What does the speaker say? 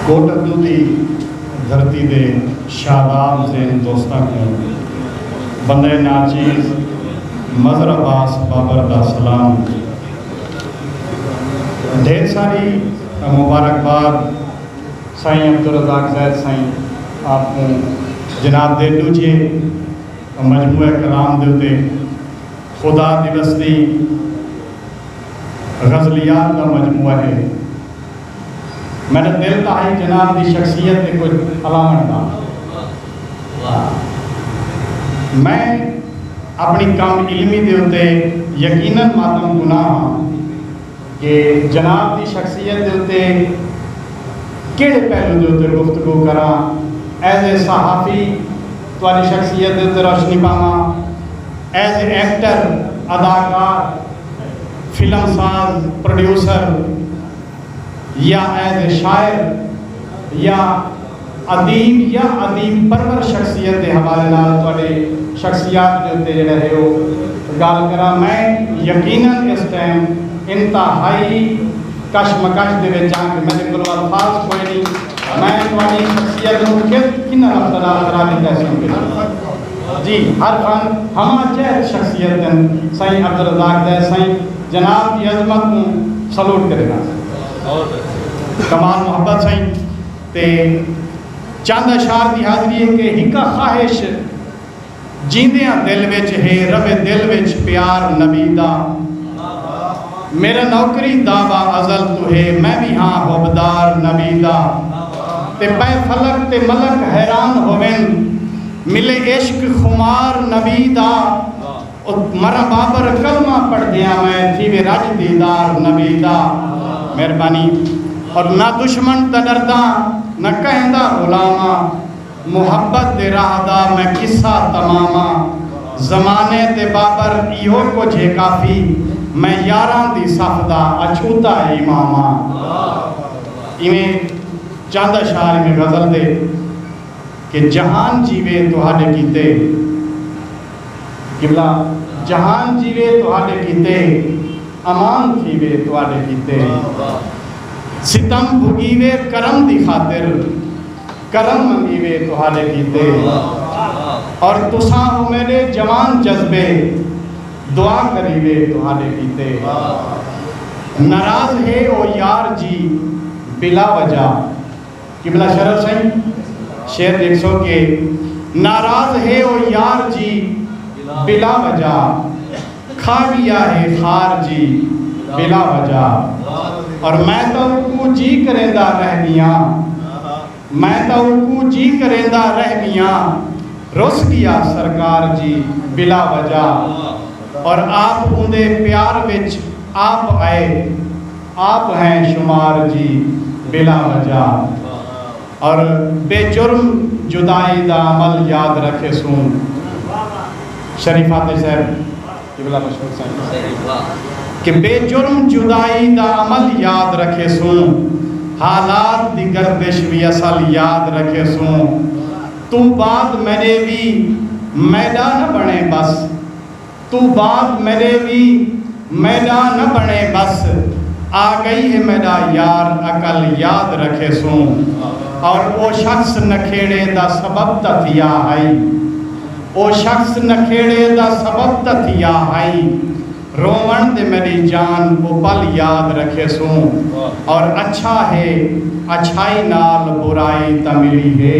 کوٹندو دی دھرتی دے شاداب ذہن دوستاں کوں بندہ ناچیز مظہر عباس بابر دا سلام۔ ڈھیر ساری مبارکباد سائیں عبدالرزاق زید سائیں آپ کوں جناب دے ڈوجھے مجموعہ کلام دے اتے خدا دیوس دی غزلیات دا مجموعہ ہے۔ میڈا دل تاں ہئی جناب دی شخصیت تے کجھ الاونڑ دا۔ میں اپنی کم علمی دے اتے یقینا ماتم کناں ہاں کہ جناب دی شخصیت دے اتے کیڑھے پہلو دے اتے گفتگو کراں۔ ایز اے صحافی تہاڈی شخصیت دے اتے روشنی پاواں۔ ایز اے ایکٹر، اداکار، فلم ساز، پروڈیوسر، یا ایز اے شاعر یا ادیب یا ادیب پرور شخصیت دے حوالے نال تہاڈے شخصیات دے اتے جیڑھا ہے او گالھ کراں میں یقینا اس ٹائم انتہائی کش مکش دے وچ آں کہ میڈے کولوں الفاظ کوئی نی میں تہاڈی شخصیت نوں کس کناں لفظاں نال خراب ہی کر سکدے جی ہر فن ہمہ چہت شخصیت دن سائیں عبدالرزاق دے سائیں جناب دی عظمت کوں سلوٹ کرینداں سائیں کمال محبت سائیں تے چند اشعار دی حاضری ہے کہ ہک خواہش جیندیاں دل وچ ہے رہوے دل وچ پیار نبی دا میرا نوکری دعوی ازل توں ہے میں وی ہاں حبدار نبی دا تے پے فلک تے ملک حیران ہوون ملے عشق خمار نبی دا او مرا بابر کلمہ پڑھدیاں میں تھیوے رج دیدار نبی دا مہربانی اور نہ دشمن تاں ڈرداں نہ کہیں دا غلام آں محبت دے راہ دا میں قصہ تمام آں زمانے تے بابر ایہو کجھ ہے کافی میں یاراں دی صف دا اچھوتا امام آں ایویں چند اشعار ایویں غزل دے۔ کہ جہان جیوے تہاڈے کیتے۔ قبلہ جہان جیوے تہاڈے کیتے۔ امان تھیوے تہاڈے کیتے۔ ستم بھگیوے کرم دی خاطر۔ کرم منگیوے تہاڈے کیتے۔ اور تساں او میڈے جوان جذبے۔ دعا کریوے تہاڈے کیتے۔ ناراض ہے او یار جی بلا وجہ۔ قبلہ شرف سئیں شعر ݙیکھسو کہ ناراض ہے او یار جی بلا وجہ کھا ڳیا ہے خار جی بلا وجہ اور میں تاں اوکوں جی کریندا رہ ڳیاں میں تاں اوکوں جی کریندا رہ ڳیاں رس ڳیا سرکار جی بلا وجہ اور آپ اوندے پیار وچ آپ آئے۔ آپ ہیں شمار جی بلا مجال اور بے جرم جدائی دا عمل یاد رکھے سوں شریف فاتح صاحب قبلہ مشہور صاحب کہ بے جرم جدائی دا عمل یاد رکھے سوں حالات دی گردش وی اصل یاد رکھے سوں توں بعد میڈے وی میڈا نہ بنے بس توں بعد میݙے وی میݙا نہ بݨے ٻس آڳئی ہے میݙا یار عقل یاد رکھیسوں اور او شخص نکھیڑے دا سبب تاں تھیا ہئی او شخص نکھیڑے دا سبب تاں تھیا ہئی رووݨ دے میݙی جان او پل یاد رکھیسوں اور اچھا ہے اچھائی نال برائی تاں ملی ہے۔